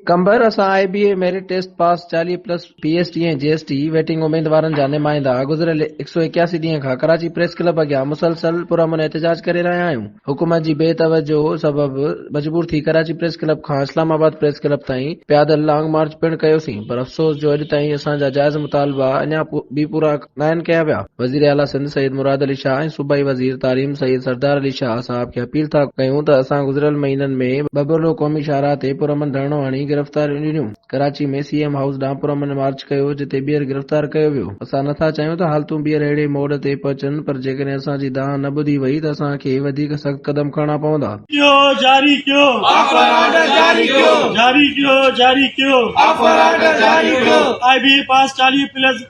قمبر، اسان I B A merit test pass چاليهه plus P S T ۽ G S T waiting اميدوارن جا نمائندا گذريل هڪ سؤ ايڪياسي ڏينهن کان ڪراچي پريس ڪلب اڳيان مسلسل پرامن احتجاج ڪري رهيا آهيون حڪومت جي بي توجهه سبب مجبور ٿي ڪراچي پريس ڪلب کان اسلام آباد پريس ڪلب تائين پيادل لانگ مارچ پڻ ڪيوسين پر افسوس جو اڄ تائين اسان جا جائز مطالبا اڃا به پورا ناهن ڪيا ويا، وزير اعليٰ سنڌ سيد مراد علي شاهه ۽ صوبائي وزير تعليم سيد سردار علي شاهه صاحب کي اپيل ٿا ڪيون ته اسان گذريل مهينن ۾ ٻٻرڙو قومي شاهراهه تي پرامن ڌرڻو هڻي گرفتاريون ڏنيون، ڪراچي ۾ سي ايم هائوس ڏانهن پرامن مارچ ڪيو جتي ٻيهر گرفتار ڪيو ويو، اسان نٿا چاهيون ته حالتون ٻيهر اهڙي موڙ تي پهچن پر جيڪڏهن اسان جي دانهن نه ٻڌي وئي ته اسان کي وڌيڪ سخت قدم کڻڻا پوندا. ڪيو جاري ڪيو آفر آرڊر جاري ڪيو جاري ڪيو جاري ڪيو آفر آرڊر جاري ڪيو آء بي اي پاس چاليهه پلس.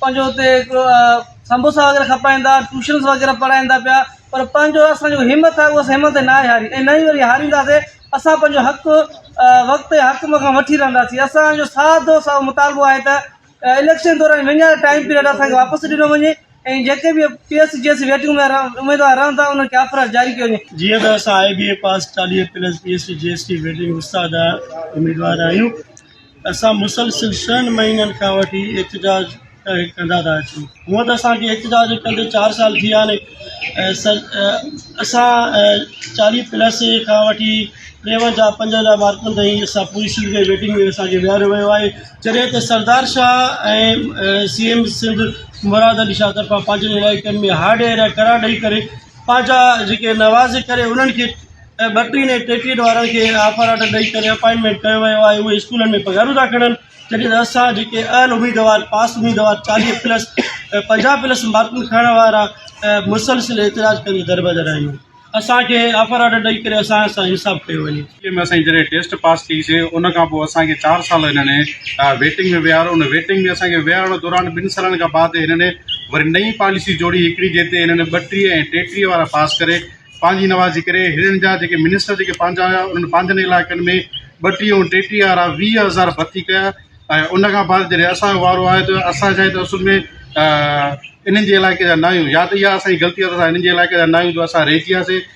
پنهنجو اتي هڪڙو سموسا وغيره کپائين ٿا ٽيوشنز وغيره پڙهائين ٿا پيا پر پنهنجو اسان جو همٿ آهي اها همٿ نه آهي هاري ۽ نه ئي وري هارينداسي اسان پنهنجو حق وقت ۽ حق کان وٺي رهنداسين اسان جو ساده سان ساهو مطالبو آهي ته اليڪشن دوران وڃڻ ٽائيم پيريڊ اسان کي واپس ڏنو وڃي ۽ جيڪي به P S C G S C waiting ۾ اميدوار رهن ٿا انهن کي آفر جاري ڪيو وڃي جيئن ته اسان آء بي اي پاس چاليهه plus P S C G S C waiting وستا جا اميدوار آهيون اسان مسلسل ڇهن مهينن کان وٺي احتجاج ڪندا ٿا اچون هونء ته اسان کي احتجاج ڪندي چار سال ٿي ويا آهن اسان چاليهه پلس کان وٺي ٽيونجاهه پنجونجاهه مارڪن تائين اسان پوري سنڌ ۾ ويٽنگ ۾ اسان کي ويهاريو ويو آهي جڏهن ته سردار شاهه ۽ سي ايم سنڌ مراد علي شاهه طرفان پنهنجن علائقن ۾ هارڊ ايريا قرار ڏئي ڪري پنهنجا جيڪي نواز ڪري انهن کي ۽ ٻٽيهن ۽ ٽيٽيهن وارن کي آفر آرڊر ڏئي ڪري اپائنٽمينٽ ڪيو ويو آهي اهي اسڪولن ۾ پگهارون ٿا کڻن جڏهن ته اسان جيڪي اهل اميدوار پاس اميدوار چاليهه پلس ۽ پنجاهه پلس مارڪون کڻڻ وارا مسلسل احتجاج ڪندي دربدر آهيون اسان کي آفر آرڊر ڏئي ڪري اسان سان انصاف ڪيو وڃي. ٽيٽي ۾ اسان جي جڏهن ٽيسٽ پاس ٿي سي ان کان پوء اسان کي چار سال هنن ويٽنگ ۾ ويهاريو ان ويٽنگ ۾ اسان کي ويهارڻ دوران ٻن سالن کان بعد هنن وري نئين پاليسي جوڙي هڪڙي جنهن تي هنن ٻٽيهه ۽ ٽيٽيهه وارا پاس ڪري پنهنجي نوازي ڪري هنن جا جيڪي منسٽر جيڪي پنهنجا هيا انهن پنهنجن علائقن ۾ ٻٽيهه ۽ ٽيٽيهه وارا ويهه هزار ڀرتي ڪيا ۽ ان کان بعد جڏهن اسان جو وارو آيو ته اسان شايد ته اصل ۾ انهن جي علائقي جا نه آهيون يا ته اها اسان جي غلطي آهي ته اسان هنن جي علائقي جا نه آهيون جو اسان رهجي وياسي